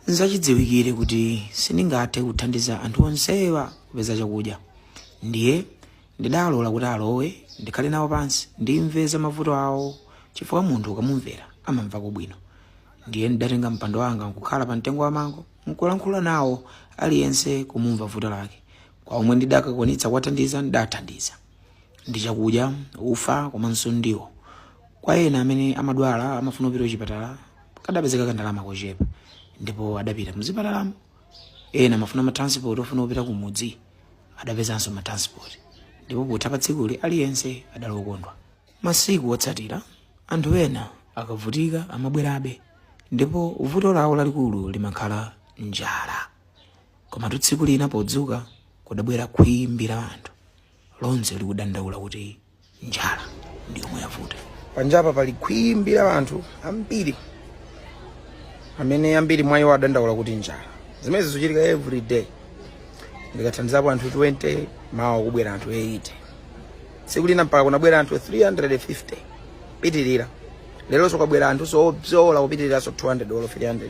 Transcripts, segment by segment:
nzachidziwikire kuti sindingathe kuthandiza anthu onsewa kupeza chakudya ndiye ndidalola kuti alowe ndikhale nawo pansi ndimve za mavuto awo chifukwa munthu ukamumvera amamvako bwino ndiye ndidatenga mpando wanga nkukhala pa mtengo wa mango nkulankhula nawo aliyense kumumva vuto lake kwa omwe ndidakakwanitsa kuwathandiza ndidathandiza ndi chakudya ufa komanso ndiwo kwa ena amene amadwala amafuna kupita kuchipatala kadapezeka kandalama kochepa ndipo adapita mzipatalamo ena amafuna matransport ofuna kupita kumudzi adapezanso matransport ndipo potha pa tsikuli aliyense adali okondwa masiku otsatira anthu ena akavutika amabwerabe ndipo vuto lawo lalikulu limakhala njala komatu tsiku lina podzuka kudabwera khwimbi la anthu lonse likudandaula kuti njala ndi yomwe yavuta panjapa pali khwimbi la anthu ambiri amene ambiri mwa iwo adandaula kuti njala zimenezi zikuchitika every day ndikathandizapo anthu 20 mawa kubwera anthu 80 tsiku lina mpaka kunabwera anthu 350 pitirira leronso kwabwera anthu oposa kupitiriranso 200 olo 300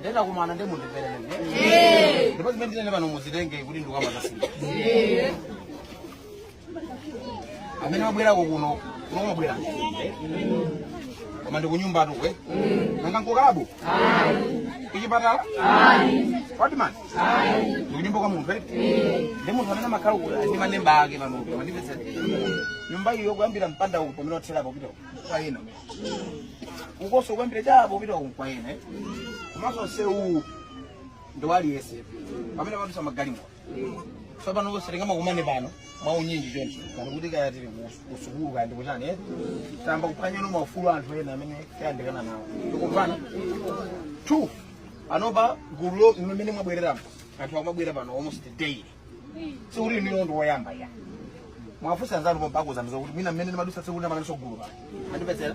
ndinakumana ndi munthu mperere ndipo zimene ndinene pano muzitenge kuti ndikukambatasii amene wabwerako kuno kuno wabwera koma ndi kunyumbatu eh? nanga nkukalabu kuchipatala watman ndi kunyumba kwa munthu eh? ndi munthu amene amakhala ku- ndi mamembala ake panopo mwandipeza nyumba iyo kuyambira mpanda uwu pamene watherapo kupita kwa ena ukonso kuyambira chapo kupita uwu kwa ena eh? komanso msewu uwu ndi wa aliyense pamene pamadutsa magalimoto tsopano onse tingamakumane pano mwaunyinji choncho pano ngati kaya tili ku- kusukulu kaya ndikuchani eh? tayamba kuphwanyano maufulu anthu ena amene tayandikana nawo tikumvana two panopa gulu lo- mmene mwabwereramo anthu akumabwera pano almost daily sikuti inu ndi oyamba ayi muwafunse anzanu pompakuza mzo kuti mwina mmene ndimadutsa tsiku lina munalinso gulu pano andipezera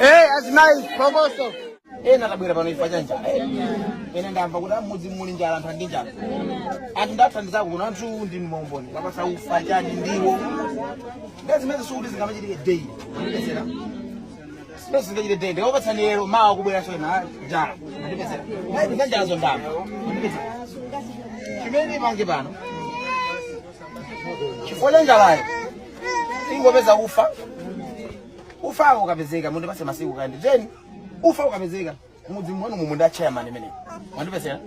Hey, azimayi phokoso ena atabwera pano chifukwa cha njala ena ndamva kuti m'mudzi muli njala anthu ali ndi njala anthu ndathandizako kuno anthu ndi mboni kuwapatsa ufa chani ndiwo ndiye zimene sikuti zingamachitike daily Sipesi ngachite tende ndawapatsani lero mawa kubweranso njala. Ndipezera. Ayi ndi kanjala zoona ndamva. Ndipezera. Chimene upange pano. Chifukwa cha njalayo. Ingopeza ufa. Ufa ukapezeka mundipatse masiku kaye. Then ufa ukapezeka mudziwanu umuuze ndi a chairman amenewa. Mwandipezera.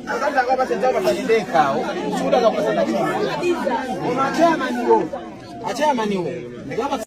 Akati akapatse njala patsa ndekha. Suda akapatsa ndekha. Koma a chairman wo. Achairman wo. Ndikapatsa